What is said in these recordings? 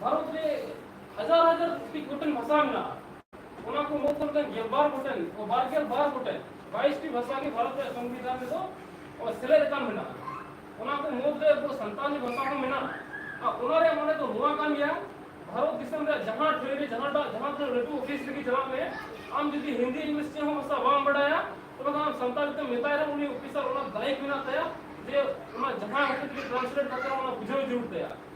ᱵᱷᱟᱨᱚᱛ ᱨᱮ ᱦᱟᱡᱟᱨ ᱦᱟᱡᱟᱨ ᱠᱳᱴᱤ ᱜᱚᱴᱮᱱ ᱵᱷᱟᱥᱟ ᱢᱮᱱᱟᱜᱼᱟ ᱚᱱᱟ ᱠᱚ ᱢᱩᱫᱽ ᱨᱮ ᱜᱮᱞᱵᱟᱨ ᱜᱚᱴᱮᱱ ᱵᱟᱨᱜᱮᱞ ᱵᱟᱨ ᱜᱚᱴᱮᱱ ᱵᱟᱭᱤᱥᱴᱤ ᱵᱷᱟᱥᱟ ᱜᱮ ᱵᱷᱟᱨᱚᱛ ᱨᱮᱭᱟᱜ ᱥᱚᱝᱵᱤᱫᱷᱟᱱ ᱨᱮᱫᱚ ᱥᱮᱞᱮᱫ ᱟᱠᱟᱱ ᱢᱮᱱᱟᱜᱼᱟ ᱚᱱᱟ ᱠᱚ ᱢᱩᱫᱽ ᱨᱮ ᱟᱵᱚ ᱥᱟᱱᱛᱟᱲᱤ ᱵᱷᱟᱥᱟ ᱦᱚᱸ ᱢᱮᱱᱟᱜᱼᱟ ᱟᱨ ᱚᱱᱟ ᱨᱮᱭᱟᱜ ᱢᱟᱱᱮ ᱫᱚ ᱱᱚᱣᱟ ᱠᱟᱱ ᱜᱮᱭᱟ ᱵᱷᱟᱨᱚᱛ ᱫᱤᱥᱚᱢ ᱨᱮᱭᱟᱜ ᱡᱟᱦᱟᱸ ᱴᱷᱟᱹᱭ ᱨᱮ ᱡᱟᱦᱟᱸᱴᱟᱜ ᱡᱟᱦᱟᱸ ᱛᱤᱱᱟᱹᱜ ᱞᱟᱹᱴᱩ ᱚᱯᱷᱤᱥ ᱨᱮᱜᱮ ᱪᱟᱞᱟᱜ ᱢᱮ ᱟᱢ ᱡᱩᱫᱤ ᱦᱤᱱᱫᱤ ᱤᱝᱞᱤᱥ ᱪᱮᱫ ᱦᱚᱸ ᱵᱷᱟᱥᱟ ᱵᱟᱢ ᱵᱟᱰᱟᱭᱟ ᱛᱚᱵᱮ ᱠᱷᱟᱱ ᱥᱟᱱᱛᱟᱲᱤ ᱛᱮᱢ ᱢᱮᱛᱟᱭ ᱨᱮᱦᱚᱸ ᱩᱱᱤ ᱚᱯᱷᱤᱥᱟᱨ ᱚᱱᱟ ᱫᱟᱭᱤᱛ ᱢᱮᱱᱟᱜ ᱛᱟᱭᱟ ᱡᱮ ᱚᱱᱟ ᱡᱟᱦᱟᱸ ᱦᱚᱛᱮᱡ ᱛᱮ ᱴᱨᱟᱱᱥᱞᱮᱴ ᱠᱟᱛᱮ ᱚᱱᱟ ᱵᱩᱡᱷᱟᱹᱣ ᱡᱟᱹᱨᱩᱲ ᱛᱟᱭᱟ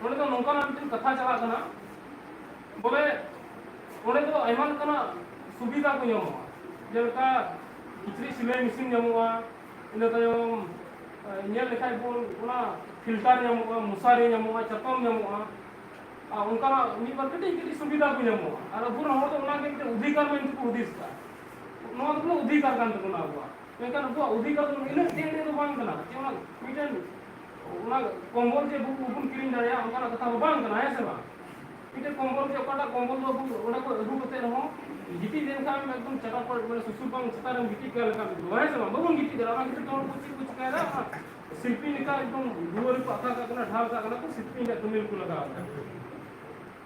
ᱱᱚᱸᱰᱮ ᱫᱚ ᱱᱚᱝᱠᱟᱱᱟᱜ ᱢᱤᱫᱴᱮᱱ ᱠᱟᱛᱷᱟ ᱪᱟᱞᱟᱜ ᱠᱟᱱᱟ ᱵᱚᱞᱮ ᱚᱸᱰᱮ ᱫᱚ ᱟᱭᱢᱟ ᱞᱮᱠᱟᱱᱟᱜ ᱥᱩᱵᱤᱫᱷᱟ ᱠᱚ ᱧᱟᱢᱚᱜᱼᱟ ᱡᱮᱞᱮᱠᱟ ᱠᱤᱪᱨᱤᱡ ᱥᱤᱞᱟᱹᱭ ᱢᱮᱥᱤᱱ ᱧᱟᱢᱚᱜᱼᱟ ᱤᱱᱟᱹ ᱛᱟᱭᱚᱢ ᱧᱮᱞ ᱞᱮᱠᱷᱟᱡ ᱵᱚᱱ ᱚᱱᱟ ᱯᱷᱤᱞᱴᱟᱨ ᱧᱟᱢᱚᱜᱼᱟ ᱢᱚᱥᱟᱨᱤ ᱧᱟᱢᱚᱜᱼᱟ ᱪᱟᱛᱚᱢ ᱧᱟᱢᱚᱜᱼᱟ ᱟᱨ ᱚᱱᱠᱟᱱᱟᱜ ᱢᱤᱫ ᱵᱟᱨ ᱠᱟᱹᱴᱤᱡ ᱠᱟᱹᱴᱤᱡ ᱥᱩᱵᱤᱫᱷᱟ ᱠᱚ ᱧᱟᱢᱚᱜᱼᱟ ᱟᱨ ᱟᱵᱚ ᱨᱮᱱ ᱦᱚᱲ ᱫᱚ ᱚᱱᱟᱜᱮ ᱢᱤᱫᱴᱮᱱ ᱚᱫᱷᱤᱠᱟᱨ ᱢᱮᱱᱛᱮ ᱠᱚ ᱦᱩᱫᱤᱥ ᱮᱫᱟ ᱱᱚᱣᱟ ᱫᱚ ᱚᱫᱷᱤᱠᱟᱨ ᱠᱟᱱ ᱛᱟᱵᱚᱱᱟ ᱟᱵᱚᱣᱟᱜ ᱢᱮᱱᱠᱷᱟᱱ ᱩᱱᱠᱩᱣᱟᱜ ᱚᱫᱷᱤᱠᱟᱨ ᱫᱚ ᱤᱱᱟᱹᱜ ᱫᱤᱱ ᱨᱮ ᱫᱚ ᱵᱟᱝ ᱠᱟᱱᱟ ᱡᱮ ᱚᱱᱟ ᱢᱤᱫᱴᱮᱱ ᱚᱱᱟ ᱠᱚᱢᱵᱚᱞ ᱡᱮ ᱟᱵᱚ ᱵᱚᱱ ᱠᱤᱨᱤᱧ ᱫᱟᱲᱮᱭᱟᱜᱼᱟ ᱚᱱᱠᱟᱱᱟᱜ ᱠᱟᱛᱷᱟ ᱫᱚ ᱵᱟᱝ ᱠᱟᱱᱟ ᱦᱮᱸ ᱥᱮ ᱵᱟᱝ ᱢᱤᱫᱴᱮᱱ ᱠᱚᱢᱵᱚᱞ ᱜᱮ ᱚᱠᱟᱴᱟᱜ ᱠᱚᱢᱵᱚᱞ ᱫᱚ ᱟᱵᱚ ᱚᱸᱰᱮ ᱠᱷᱚᱱ ᱟᱹᱜᱩ ᱠᱟᱛᱮ ᱨᱮᱦᱚᱸ ᱜᱤᱛᱤᱡ ᱞᱮᱱᱠᱷᱟᱱ ᱮᱠᱫᱚᱢ ᱪᱟᱴᱟᱠ ᱠᱚ ᱢᱟᱱᱮ ᱥᱩᱥᱩᱨ ᱵᱟᱝ ᱪᱮᱛᱟᱱ ᱨᱮᱢ ᱜᱤᱛᱤᱡ ᱠᱟᱱ ᱞᱮᱠᱟᱢ ᱟᱹᱭᱠᱟᱹᱣᱟ ᱦᱮᱸ ᱥᱮ ᱵᱟᱝ ᱵᱟᱵᱚᱱ ᱜᱤᱛᱤᱡ ᱫᱟᱲᱮᱭᱟᱜᱼᱟ ᱚᱱᱟ ᱠᱷᱟᱹᱛᱤᱨ ᱛᱮ ᱦᱚᱲ ᱠᱚ ᱪᱮᱫ ᱠᱚ ᱪᱤᱠᱟᱹᱭᱮᱫᱟ ᱚᱱᱟ ᱥᱤᱞᱯᱤᱧ ᱞᱮᱠᱟ ᱮᱠᱫᱚᱢ ᱫᱩᱣᱟᱹᱨ ᱨᱮᱠᱚ ᱟᱠᱟ ᱠᱟᱜ ᱠᱟᱱᱟ ᱰᱷᱟᱞ ᱠᱟᱜ ᱠᱟᱱᱟ ᱠᱚ ᱥᱤᱞᱯᱤᱧ ᱨᱮᱭᱟᱜ ᱠᱟᱹᱢᱤ ᱨᱮᱠᱚ ᱞᱟᱜᱟᱣ ᱮᱫᱟ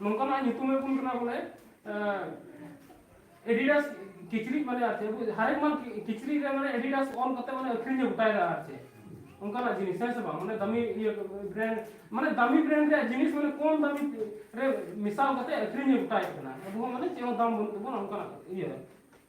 ᱱᱚᱝᱠᱟᱱᱟᱜ ᱧᱩᱛᱩᱢ ᱮ ᱵᱚᱱ ᱠᱟᱱᱟ ᱵᱚᱞᱮ ᱮᱰᱤᱰᱟᱥ ᱠᱤᱪᱨᱤᱡ ᱢᱟᱱᱮ ᱟᱨ ᱪᱮᱫ ᱦᱟᱨᱮᱠ ᱢᱟᱱ ᱠᱤᱪᱨᱤᱡ ᱨᱮ ᱢᱟᱱᱮ ᱮᱰᱤᱰᱟᱥ ᱚᱞ ᱠᱟᱛᱮ ᱢᱟᱱᱮ ᱟᱹᱠᱷᱨᱤᱧ ᱮ ᱜᱚᱴᱟᱭᱮᱫᱟ ᱟᱨ ᱪᱮᱫ ᱚᱱᱠᱟᱱᱟᱜ ᱡᱤᱱᱤᱥ ᱦᱮᱸ ᱥᱮ ᱵᱟᱝ ᱢᱟᱱᱮ ᱫᱟᱢᱤ ᱤᱭᱟᱹ ᱵᱨᱮᱱᱰ ᱢᱟᱱᱮ ᱫᱟᱢᱤ ᱵᱨᱮᱱᱰ ᱨᱮᱭᱟᱜ ᱡᱤᱱᱤᱥ ᱢᱟᱱᱮ ᱠᱚᱢ ᱫᱟᱢᱤ ᱨᱮ ᱢᱮᱥᱟᱞ ᱠᱟᱛᱮ ᱟᱹᱠᱷᱨᱤᱧ ᱮ ᱜᱚᱴᱟᱭᱮᱫ ᱠᱟᱱᱟ ᱟᱵᱚ ᱦᱚᱸ ᱢᱟᱱᱮ ᱪᱮᱫ ᱦᱚᱸ ᱫᱟᱢ ᱵᱟᱹᱱᱩᱜ ᱛᱟᱵᱚᱱᱟ ᱚᱱᱠᱟᱱᱟᱜ ᱤᱭᱟᱹ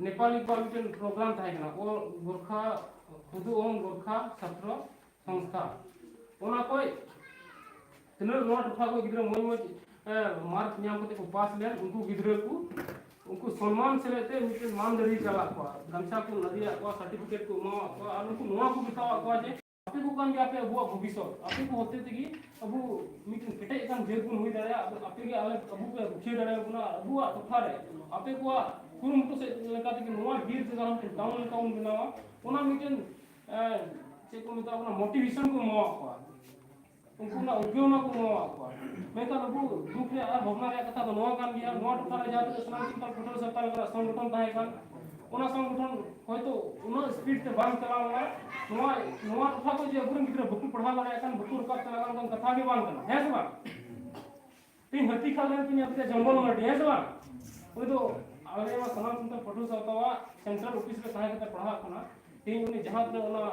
ᱱᱮᱯᱟᱞᱤ ᱠᱚᱣᱟᱜ ᱢᱤᱫᱴᱮᱱ ᱯᱨᱳᱜᱨᱟᱢ ᱛᱟᱦᱮᱸ ᱠᱟᱱᱟ ᱚᱞ ᱜᱚᱨᱠᱷᱟ ᱠᱩᱫᱩ ᱚᱞ ᱜᱚᱨᱠᱷᱟ ᱪᱷᱟᱛᱨᱚ ᱥᱚᱝᱥᱛᱷᱟ ᱚᱱᱟ ᱠᱷᱚᱡ ᱛᱤᱱᱟᱹᱜ ᱱᱚᱣᱟ ᱴᱚᱴᱷᱟ ᱠᱚ ᱜᱤᱫᱽᱨᱟᱹ ᱢᱚᱡᱽ ᱢᱚᱡᱽ ᱢᱟᱨᱠ ᱧᱟᱢ ᱠᱟᱛᱮ ᱠᱚ ᱯᱟᱥ ᱞᱮᱱ ᱩᱱᱠᱩ ᱜᱤᱫᱽᱨᱟᱹ ᱠᱚ ᱩᱱᱠᱩ ᱥᱚᱱᱢᱟᱱ ᱥᱮᱞᱮᱫ ᱛᱮ ᱢᱤᱫᱴᱮᱱ ᱢᱟᱱ ᱫᱟᱲᱮ ᱪᱟᱞᱟᱜ ᱠᱚᱣᱟ ᱜᱟᱢᱪᱷᱟ ᱠᱚ ᱞᱟᱫᱮᱭᱟᱜ ᱠᱚᱣᱟ ᱥᱟᱨᱴᱤᱯᱷᱤᱠᱮᱴ ᱠᱚ ᱮᱢᱟᱣᱟᱜ ᱠᱚᱣᱟ ᱟᱨ ᱩᱱᱠᱩ ᱱᱚᱣᱟ ᱠᱚ ᱢᱮᱛᱟᱣᱟᱜ ᱠᱚᱣᱟ ᱡᱮ ᱟᱯᱮ ᱠᱚ ᱠᱟᱱ ᱜᱮᱭᱟ ᱟᱯᱮ ᱟᱵᱚᱣᱟᱜ ᱵᱷᱚᱵᱤᱥᱚᱛ ᱟᱯᱮ ᱠᱚ ᱦᱚᱛᱮ ᱛᱮᱜᱮ ᱟᱵᱚ ᱢᱤᱫᱴᱮᱱ ᱠᱮᱴᱮᱡ ᱟᱠᱟᱱ ᱡᱟᱹᱛ ᱵᱚᱱ ᱦᱩᱭ ᱫᱟᱲᱮᱭᱟᱜᱼᱟ ᱟᱫᱚ ᱟᱯᱮ ᱜᱮ ᱟᱞᱮ ᱟᱵᱚ ᱯᱮ ᱨᱩᱠᱷᱤᱭᱟᱹ ᱫᱟᱲᱮᱭᱟᱵᱚᱱᱟ ᱟᱵᱚᱣᱟᱜ ᱴᱚᱴᱷᱟ ᱨᱮ ᱟᱯᱮ ᱠᱚᱣᱟᱜ ᱠᱩᱨᱩᱢᱩᱴᱩ ᱥᱮᱫ ᱞᱮᱠᱟ ᱛᱮᱜᱮ ᱱᱚᱣᱟ ᱵᱤᱨ ᱡᱟᱭᱜᱟ ᱨᱮ ᱢᱤᱫᱴᱮᱱ ᱴᱟᱣᱩᱱ ᱞᱮᱠᱟ ᱵᱚᱱ ᱵᱮᱱᱟᱣᱟ ᱚᱱᱟ ᱢᱤᱫᱴᱮᱱ ᱮᱸ, ᱪᱮᱫ ᱠᱚ ᱢᱮᱛᱟᱜ ᱠᱟᱱᱟ ᱢᱳᱴᱤᱵᱷᱮᱥᱚᱱ ᱠᱚ ᱮᱢᱟᱣᱟᱜ ᱠᱚᱣᱟ ᱩᱱᱠᱩ ᱢᱟ ᱩᱫᱽᱜᱟᱹᱣ ᱢᱟ ᱠᱚ ᱮᱢᱟᱣᱟᱜ ᱠᱚᱣᱟ ᱢᱮᱱᱠᱷᱟᱱ ᱩᱱᱠᱩ ᱫᱩᱠ ᱨᱮᱭᱟᱜ ᱟᱨ ᱵᱷᱟᱵᱽᱱᱟ ᱨᱮᱭᱟᱜ ᱠᱟᱛᱷᱟ ᱫᱚ ᱱᱚᱣᱟ ᱠᱟᱱ ᱜᱮᱭᱟ ᱱᱚᱣᱟ ᱴᱚᱴᱷᱟ ᱨᱮ ᱡᱟᱦᱟᱸ ᱛᱤᱱᱟᱹᱜ ᱥᱟᱱᱟᱢ ᱥᱟᱱᱛᱟᱲ ᱯᱷᱩᱴᱟᱹᱨ ᱥᱟᱱᱛᱟᱲ ᱠᱚᱣᱟᱜ ᱥᱚᱝᱜᱚᱴᱷᱚᱱ ᱛᱟᱦᱮᱸ ᱠᱟᱱ ᱚᱱᱟ ᱥᱚᱝᱜᱚᱴᱷᱚᱱ ᱦᱚᱭᱛᱳ ᱩᱱᱟᱹᱜ ᱤᱥᱯᱤᱰ ᱛᱮ ᱵᱟᱝ ᱪᱟᱞᱟᱣ ᱞᱮᱱᱟ ᱱᱚᱣᱟ ᱱᱚᱣᱟ ᱴᱚᱴᱷᱟ ᱠᱚ ᱡᱮ ᱟᱵᱚᱨᱮᱱ ᱜᱤᱫᱽᱨᱟᱹ ᱵᱟᱠᱚ ᱯᱟᱲᱦᱟᱣ ᱫᱟᱲᱮᱭᱟᱜ ᱠᱟᱱ ᱵᱟᱠᱚ ᱨᱟᱠᱟᱵ ᱪᱟᱞᱟᱜ ᱠᱟᱱ ᱠᱟᱛᱷᱟ ᱜᱮ ᱵᱟᱝ ᱠᱟᱱᱟ ᱦᱮᱸ ᱥᱮ ᱵᱟᱝ ᱛᱤᱧ ᱦᱟᱹᱛᱤ ᱠᱷᱟᱞ ᱨᱮᱱ ᱛᱤᱧ ᱟᱯᱮ ᱡᱚᱝᱜᱚᱞ ᱢᱟᱨᱰᱤ ᱦᱮᱸ ᱥᱮ ᱵᱟᱝ ᱩᱱᱤ ᱫᱚ ᱟᱞᱮ ᱱᱚᱣᱟ ᱥᱟᱱᱟᱢ ᱥᱟᱱᱛᱟᱲ ᱯᱟᱹᱴᱷᱩᱣᱟᱹ ᱥᱟᱶᱛᱟᱣᱟᱜ ᱥᱮᱱᱴᱨᱟᱞ ᱚᱯᱷᱤᱥ ᱨᱮ ᱛᱟᱦᱮᱸ ᱠᱟᱛᱮ ᱯᱟᱲᱦᱟᱜ ᱠᱟᱱᱟ ᱛᱤᱧ ᱩᱱᱤ ᱡᱟᱦᱟᱸ ᱛᱤᱱᱟᱹᱜ ᱚᱱᱟ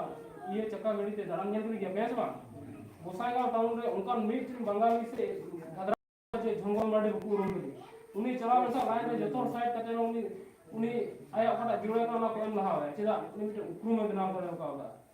ᱤᱭᱟᱹ ᱪᱟᱠᱟ ᱜᱟᱹᱰᱤ ᱛᱮ ᱫᱟᱬᱟᱱ ᱧᱮᱞ ᱠᱮᱫ ᱜᱮᱭᱟ ᱯᱮ ᱦᱮᱸ ᱥᱮ ᱵᱟᱝ ᱜᱚᱥᱟᱭᱜᱟᱸᱣ ᱴᱟᱣᱩᱱ ᱨᱮ ᱚᱱᱠᱟᱱ ᱢᱤᱫᱴᱮᱱ ᱵᱟᱝᱜᱟᱞᱤ ᱥᱮ ᱜᱷᱟᱫᱽᱨᱟ ᱡᱮ ᱡᱚᱝᱜᱚᱞ ᱢᱟᱨᱰᱤ ᱵᱟᱠᱚ ᱩᱨᱩᱢ ᱠᱮᱫᱮ ᱩᱱᱤ ᱪᱟᱞᱟᱣ ᱞᱮᱱᱠᱷᱟᱱ ᱞᱟᱭᱤᱱ ᱨᱮ ᱡᱚᱛᱚ ᱦᱚᱲ ᱥᱟᱭᱤᱰ ᱠᱟᱛᱮ ᱩᱱᱤ ᱩᱱᱤ ᱟᱭᱟᱜ ᱚᱠᱟᱴᱟᱜ ᱡᱩᱲᱟᱹ ᱠᱟᱱᱟ ᱚᱱᱟ ᱠᱚ ᱮᱢ ᱞᱟᱦᱟᱣᱟᱭᱟ ᱪᱮᱫᱟᱜ ᱩᱱᱤ ᱢᱤᱫᱴᱮᱱ ᱩᱯᱨᱩᱢᱮ ᱵᱮᱱᱟᱣ ᱫᱟᱲᱮ ᱠᱟᱣᱫᱟ